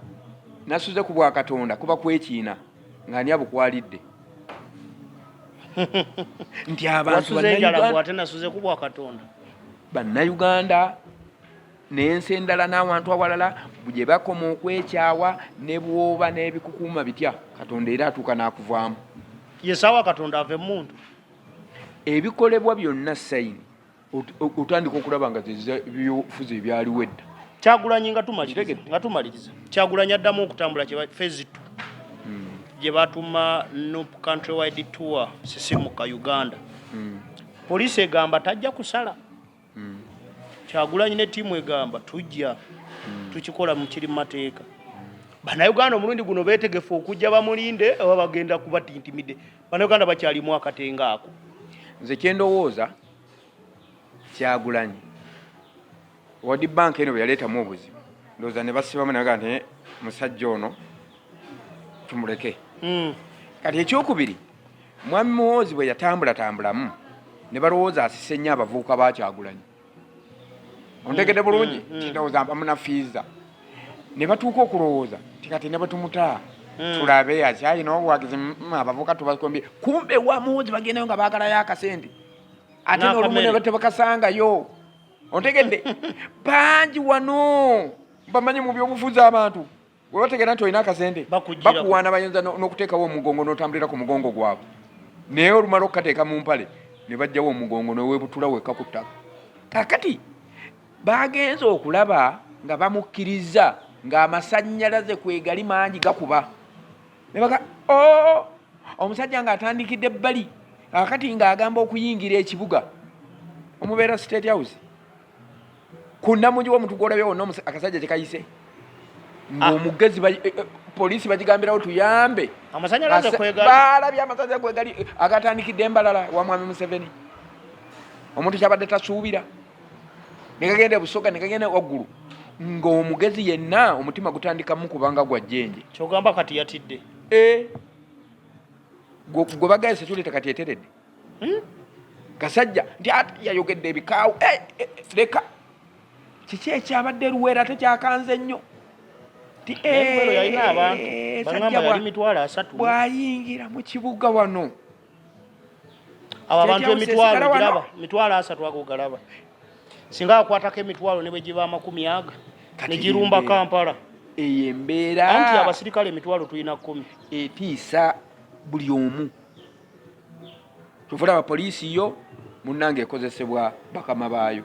Speaker 1: nasuze ku bwakatonda kuba kwekiina ng'ani abukwalidde nti abantu bannayuganda n'ensi endala n'awantu awalala gye bakoma okwekyawa ne bwoba n'ebikukuuma bitya katonda era atuuka n'akuvaamu yesaawa
Speaker 2: katonda ave mumuntu
Speaker 1: ebikolebwa byonna sayini otandika okulaba nga zebyobufuzi ebyaliwo edda kyagulanyi nga
Speaker 2: tumaliriza nga tumaliriza kyagulanyi addamu okutambula kye phase 2 hmm. gye batuma nup country wide tour sisimuka uganda hmm. poliisi egamba tajja kusala hmm. kyagulanyi ne tiimu egamba tujja tukikola mukiri mu mateeka banauganda omulundi guno betegefu okujja bamulinde oba bagenda kubatintimide banauganda bakyalimu akatenga ako nze
Speaker 1: kyendowooza kyagulanyi wadi bank eno beyaleetamu obuzibu ndowooza ne basibamu naga nti eh, musajja ono tumuleke hmm. kati ekyokubiri mwami muwoozi bwe yatambulatambulamu ne balowooza asise nnyo abavubuka bakyagulanyi ontegede hmm, bulungi hmm, tindowooza mpamuna fiiza ne batuuka okulowooza ti kati ne batumutaa Mm. tulabe akyalina obuwagizi mm, abavuka tubakombye kumbe wamuwuzi bagendayo nga bagalayo akasente ate n'olumu ne tebakasangayo ontegedde bangi wano bamanyi mu byobufuzi abantu webategera nti olina akasente bakuwaana bayinza n'okuteekawo omugongo n'otambulira ku mugongo gwabwe naye olumala okukateeka mu mpale ne bajjawo omugongo newebutula wekka ku ttaka kakati bagenze okulaba nga bamukkiriza ng'amasannyalaze kwegali mangi gakuba ne baga o oh, omusajja ng'atandikidde bbali akati ng'agamba okuyingira ekibuga omubeera state house ku nnamugi w'omuntu gw'olabye wonna akasajja kyekayise ng'omugezi ah. eh, eh, poliisi bagigambirawo tuyambe baalabye amasanyalaze kwegali agatandikidde embalala wa mwami museveni omuntu kyabadde tasuubira negagenda ebusoga negagenda waggulu ng'omugezi yenna omutima gutandikamu kubanga gwa jjenje kyogamba kati yatidde
Speaker 2: eh.
Speaker 1: gwe bagaye sekyuleta kati eteredde hmm? kasajja nti ate yayogedde ebikaawo eh, eh, leka kiki ekyabadde luweera ate kyakanze nnyo bwayingira mu kibuga wano
Speaker 2: abo abantu emitwalo giraba mitwalo asatu ago galaba singa akwatako emitwalo ne bwe giba amakumi aga ne girumba kampala eyo embeera
Speaker 1: anti abasirikale
Speaker 2: emitwalo tulina kumi etiisa
Speaker 1: buli omu kyova olaba poliisi yo munnange ekozesebwa bakama baayo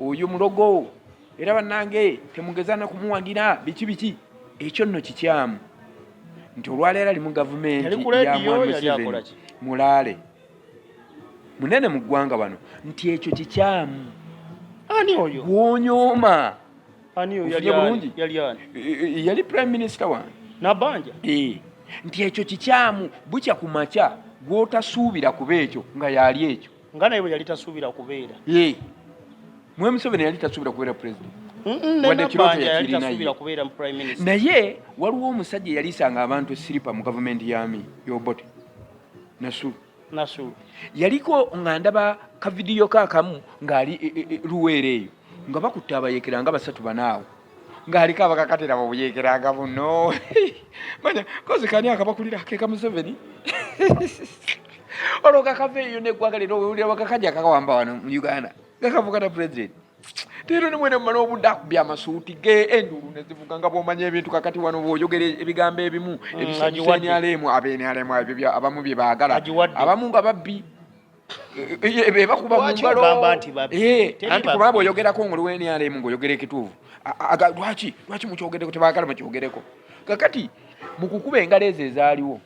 Speaker 1: oyo mulogo era banange temugeza nakumuwagira biki biki ekyo nno kikyamu nti olwaleero ali mu gavumenti yamwamuseveni mulaale munene mu ggwanga wano nti ekyo kikyamu ani
Speaker 2: oyo gwonyooma ofunye bulungi yali prime minister
Speaker 1: wange nabanja
Speaker 2: nti
Speaker 1: ekyo kikyamu bukya ku makya gwotasuubira kuba ekyo nga yaali ekyo nga naye bwe yali tasuubira
Speaker 2: kubeera
Speaker 1: mwe museveni yali tasuubira kubeera president naye waliwo omusajja eyalisanga abantu esiripa mu gavumenti yami yobote nasulu nasulu yaliko nga ndaba kavidiyo kakamu ng'ali e, e, e, luweera eyo nga bakutte abayekera nga basatu banaawo ng'aliko abakakatira mu buyeekeraga buno manya kozi kani akabakulira ke ka museveni olwo kakava eyo neggwanga lero wewulira bakakajja kakawamba wano mu uganda gakavugana president teero nimwene mumala obudde akubya amasuuti ge enduulu nezivuga nga bwomanya ebintu kakati wano bwoyogera ebigambo ebimu mm, ebisanyusa nrm abenrm ebyo abamu bye baagala abamu nga babbi ebakuba eh, eh, eh, mungalo anti kubaba oyogerako ngoli wenrm ngaoyogera ekituufu lwaki lwaki mukyogereko tebagala mukyogereko kakati mukukuba engalo ezo ezaaliwo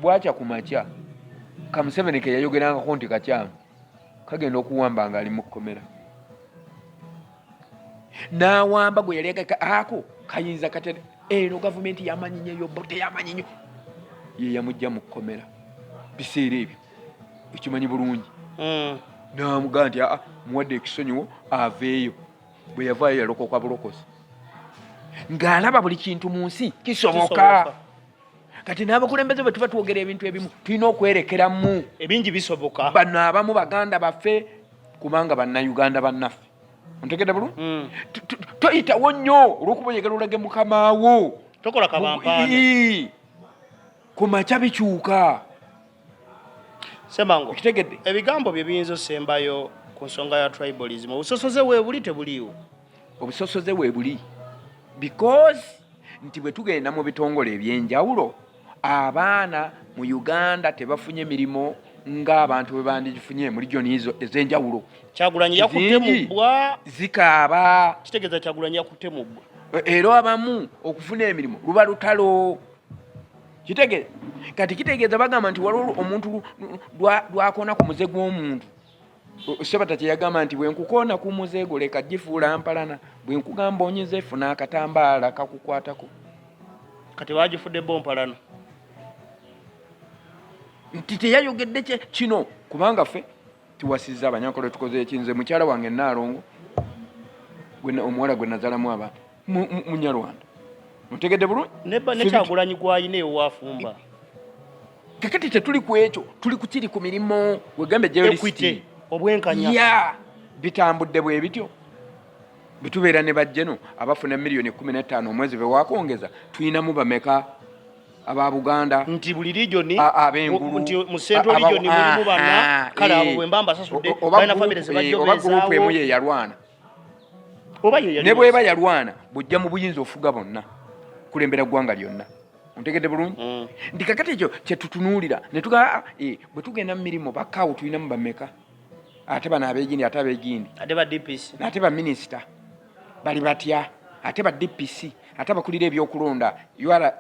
Speaker 1: bwakya ku makya kamuseveni keyayogerangako nti kakyamu kagenda okuwamba nga ali mukukomera nawamba gwe yali ako kayinza kate eno gavumenti yamanyi nyo yobote yamanyi nyo yeyamujja mukukomera biseera ebyo ekimanyi bulungi hmm. namugaa nti aa muwadde ekisonyiwo aveeyo bwe yavaayo yalokoka bulokozi ng'alaba buli kintu mu nsi kisoboka kati n'abakulembeze bwe tuba twogera ebintu ebimu tulina okwerekeramu ebingi bisoboka
Speaker 2: bano abamu baganda
Speaker 1: baffe kubanga bannayuganda bannaffe ontegedde bulu hmm. toyitawo nnyo olwokuba oyagala olage mukamaawo tokola kabampaana ku makya bikyuka semango
Speaker 2: kitegedde ebigambo bye
Speaker 1: biyinza
Speaker 2: osembayo ku nsonga ya tribalism obusosoze weebuli tebuliiwo obusosoze
Speaker 1: weebuli because nti bwe tugenda mu bitongole ebyenjawulo abaana mu uganda tebafunye mirimu ng'abantu bwe bandigifunye mu regioni ezo ez'enjawulo kyagulanyi yakutte
Speaker 2: mu bbwa zikaaba
Speaker 1: kitegeeza kyagulanyi
Speaker 2: yakutte mu bbwa e, era abamu
Speaker 1: okufuna emirimu luba lutalo kitegere kati kitegeeza bagamba nti waliwo omuntu lwakona ku muze gw'omuntu sebata kyeyagamba nti bwenkukoona ku muze gwo leka gifuula mpalana bwenkugamba onyize funa akatambaala kakukwatako
Speaker 2: kati bagifudde bo mpalana
Speaker 1: nti teyayogedde kino kubanga ffe tuwasizza abanyankole tukoze ekinze mukyala wange naalongo omuwala gwe nazalamu abantu munyarwanda mutegedde bulungi nekyagulanyi
Speaker 2: gwalina ewafumba
Speaker 1: kakati tetuli ku ekyo tuli kukiri ku mirimu wegambe jeolisiti
Speaker 2: obwenkanya ya bitambudde
Speaker 1: bwe bityo bitubeera ne bajjeno abafuna miliyoni kumi n'ettaano omwezi bewakwongeza tulinamu bameka aba buganda nti buli region
Speaker 2: abengulu nti mu central region mulimu bana kale abo bwemba mbasasudde oba group emu
Speaker 1: yeyalwana ne bweba yalwana bujja mu buyinza ofuga bonna kulembera ggwanga lyonna ontegedde bulungi mm. nti kakati ekyo kyetutunuulira netuga ah, eh, bwe tugenda mu mirimu bakawo tulinamu bameka ate bano abegindi ate abegindi
Speaker 2: ate baminisita
Speaker 1: bali batya ate ba dpc ate abakulira ebyokulonda ura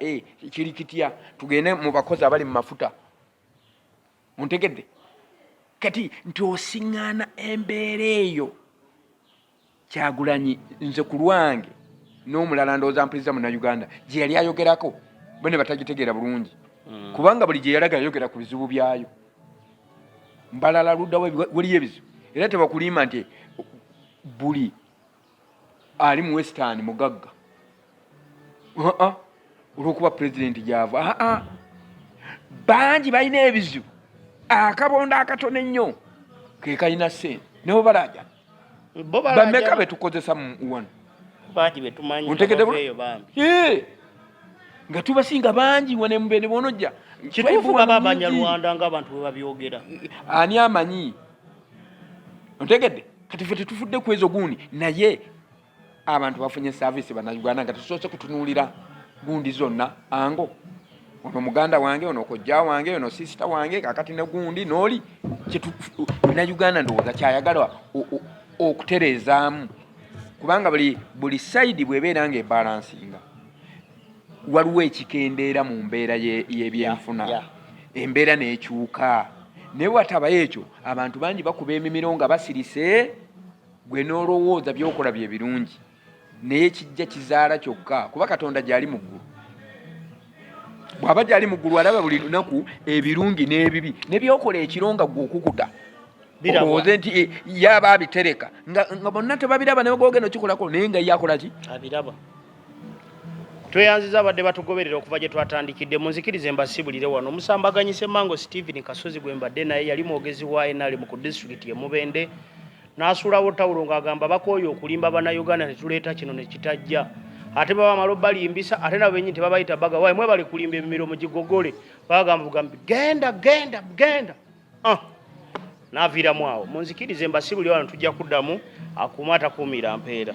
Speaker 1: kiri kitya tugende mu bakozi abali mu mafuta muntegedde kati nti osiŋŋaana embeera eyo kyagulanyi nze ku lwange n'omulala ndowooza mpuliriza munauganda gye yali ayogerako bo ne batagitegeera bulungi hmm. kubanga buli gye yalaga yayogera ku bizibu byayo mbalala luddawo waliyo ebizibu era tebakulimba nti buli ali mu western mugagga aa olwokuba pulezidenti gyava aa bangi balina ebizibu akabondo akatono ennyo kekalina sente nebo balaja bameka betukozesa wano
Speaker 2: ontegedeyo bambi
Speaker 1: nga tubasinga bangi wane mubene bonojja kituufu baba
Speaker 2: abanyarwanda nga abantu webabyogera ani amanyi
Speaker 1: ontegedde kati fe tetufudde ku ezo gundi naye abantu bafunye saavisi banauganda nga tetusoose kutunuulira gundi zonna ango ono muganda wange ono kojja wange ono sisita wange kakati ne gundi nooli nauganda ndowooza kyayagala okutereezaamu kubanga buli buli sayidi bwebeera nga ebalansinga waliwo ekikendeera mu mbeera y'ebyenfuna yeah, yeah. embeera n'ekyuka naye watabayo ekyo abantu bangi bakuba emimiro nga basirise gwe n'olowooza byokola bye birungi naye kijja kizaala kyokka kuba katonda gyali mu ggulu bw'aba gyali mu ggulu alaba buli lunaku ebirungi n'ebibi ne byokola ekiro nga gwe okukuta owoze nti eh, yaba abitereka nga bonna tebabiraba naye gogenda okikolako naye nga yakola ki abiraba
Speaker 2: tweyanziza abadde batugoberera okuva gye twatandikidde munzikirize mbasibulire wano omusambaganyise mango stephen kasozi gwe mbadde naye yali mwogezi wa enali mu ku disitulikiti emubende n'asuulawo tawulo ng'agamba bakooye okulimba bannayuganda ne tuleeta kino ne kitajja ate baba malo balimbisa ate nabo benyini tebabayita baga waye mwebali kulimba emimiro mugigogole bagamba bugambi genda genda genda ah. n'aviiramu awo munzikirize mbasibuli wano tujja kuddamu akuuma atakuumira mpeera